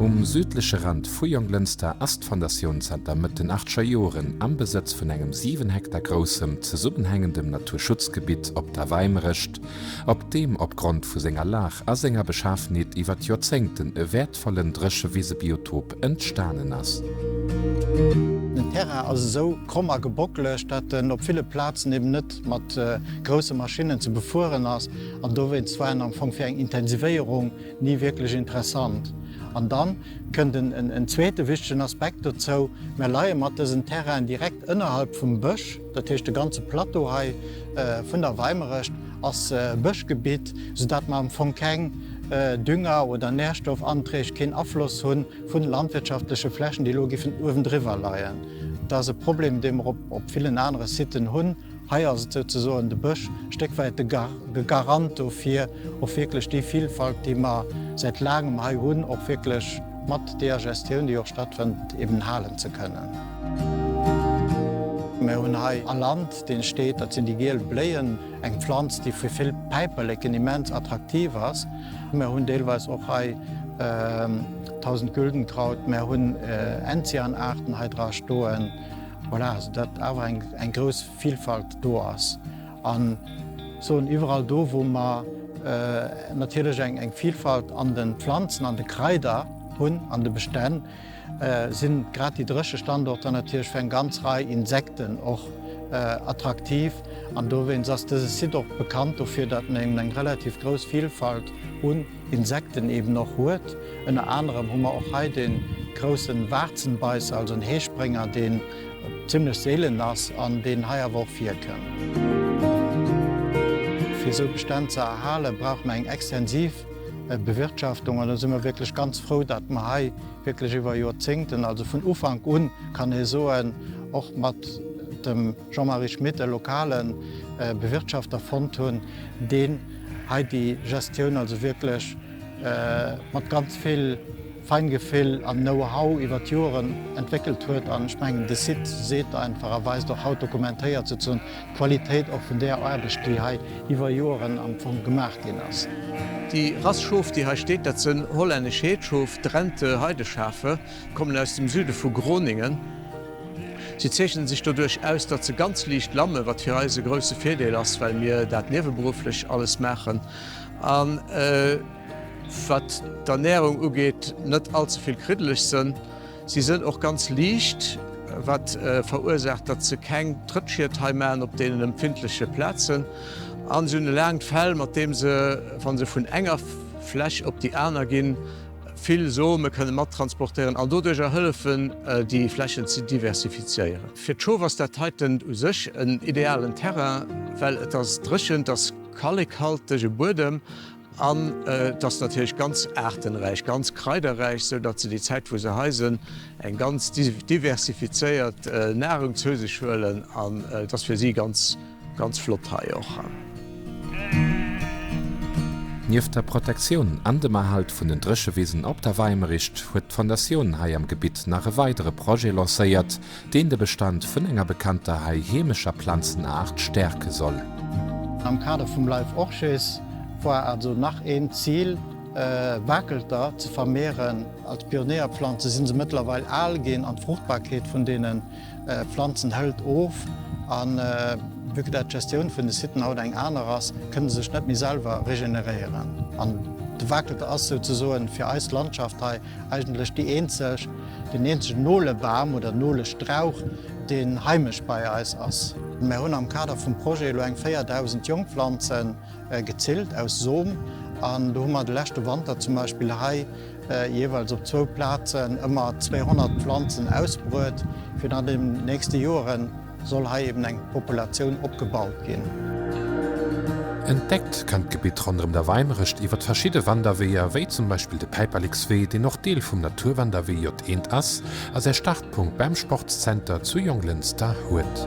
Um südleche Rand vu Jonglënster ass d'Fondatioun zanter Mëtt den Achtcher Joren am Besëtz vun engem 7 Hektar groussem zesummenhängendem Naturschutzgebitt op der Weimerecht, op deem opgrond vu senger Lag a senger Beschafenheet iwwer d'Joerzéngten e wäertvollen Dréchewisebiotop entstanen ass. Den Terrain ass esou kromm a gebockelegt, dat en op ville Plazen eben net mat grousse Maschinnen ze befueren ass an dowéinst war en am Fong fir eng Intensivéierung ni wierklech interessant. An dann kënnt en zweete wichtegen Aspekt dozou, Mir leie mat dësen Terrainen direkt ënnerhalb vum Bësch, dat heescht de ganze Plateau hei vun der Weimerecht ass Bëschgebitt, soudatt mer am Fong keng Dünger oder Nährstoffanträg, keen Afloss hunn vun landwirtschaftleche Flächen, déi elo giffen uewendriwwer leien. Dat ass e Problem, dee mer op villen anere Siten hunn. Hei ass et souzesoen de Bësch, e Stéck wäit de Garant dofir, och wierklech déi Vilfalt, déi mer säit laangem hei hunn, och wierklech mat deeër Gestioun, déi och stattfënnt, eben halen ze kënnen. Mir hunn hei a Land, dee steet, dat sinn déi giel Bléien, eng Pflanz, déi fir vill Päiperleken immens attraktiv ass. Mär hunn deelweis och hei Tausendgüldenkraut, mär hunn Enzianaarten hei dra stoen, voilà, soudatt awer eng grouss Vilfalt do ass. An soen, iwwerall do, wou mer natierlech eng Vilfalt an de Pflanzen, an de Kraider hunn, an de Bestänn, sinn grad déi dréche Standorter natierlech fir eng ganz Rei Insekten och attraktiv. An dowéinst ass dëse Site och bekannt dofir, datt en eben eng relativ grouss Vilfalt un Insekten eben och huet. Ënner anerem hu mer och hei dee grousse Waarzenbeißer, also en Heesprénger, deen zimmlech seelen ass an deen hei awer och virkënn. Fir esou Bestänn ze erhalen, brauche mer eng extensiv. Bewirtschaftung an do si mer wierklech ganz frou, datt mer hei wierklech iwwer Joerzéngten, also vun Ufank un, kann ee soen, och mat dem Jean-Marie Schmit e lokale Bewirtschafter fonnt hunn, deen hei déi Gestioun also wierklech mat ganz vill Feingefill an Know-how iwwer d'Joeren entwéckelt huet. An ech mengen, de Site seet einfach a weist och haut, dokumentéiert sozunn, D'Qualitéit och vun där Aarbecht, déi hei iwwer Joeren am Fong gemaach ginn ass. Déi Rass Schof, déi hei steet, dat sënn hollännesch Heedsschof, Drenthe Heideschafe, kommen aus dem Süde vu Groningen. Si zeechnen sech doduerch aus, datt se ganz liicht lammen, wat fir eis e grousse Virdeel ass, well mir dat nieweberufflech alles maachen an, wat d'Ernärung ugeet, net allzevill kriddeleg sënn. Si sënn och ganz liicht, wat verursaacht, datt se keng Trëttschied hei maachen op deenen empfindleche Plazen. An se hunn e laangt Fell, mat deem se, wa se vun enger Fläch op déi aner ginn, vill Some kënne mat transportéieren an doduerjer hëllefen, déi Flächen ze diversifizéieren. Fir d'Schof ass dat heiten u sech en idealen Terrain, well et ass dréchen, et ass kallekhaltege Buedem. An et ass natierlech ganz aartenräich, ganz kraiderräich, sou datt se déi Zäit wou se hei sënn eng ganz diversifizéiert Nahrung zou sech huelen an et ass fir si ganz ganz flott hei och. Nieft der Protektioun an dem Erhalt vun den Dréchewisen op der Weimerich huet d'Fondatioun hei am Gebitt nach e weidere Projet lancéiert, Deen de Bestand vun enger bekannter hei heemescher Planzenaart stäerke soll. Am Kader vum Life Orches war also nach een Zil, Wakelter ze vermehren. Als Pionéierplanze sinn se mëttlerweil al ginn an d'Fruchtbarkeet vun deene Planzen hëlt of. A vue que dat d'Gestioun vun de Siten haut eng aner ass, kënne se sech net méi selwer regeneréieren. An de Wakelter ass souzesoen fir eis Landschaft hei Eigentlech déi eenzeg, den eenzegen Nolebam oder Nolestrauch, deen heimesch bei eis ass. Mär hunn am Kader vum Projet elo eng 4.000 Jongpflanze gezillt aus Som. An do hu mer de leschte Wanter zum Beispill hei jeeweils op zwou Plazen ëmmer 200 Pflanzen ausbruet, fir dann an den nächste Joeren, soll hei eben eng Populatioun opgebaut ginn. Entdeckt kann d'Gebitt ronderëm der Weimerecht iwwert verschidde Wanderweeër, wéi zum Beispill de Päiperlekswee, deen och Deel vum Naturwanderwee J1 ass a säi Startpunkt beim Sportszenter zu Jonglënster huet.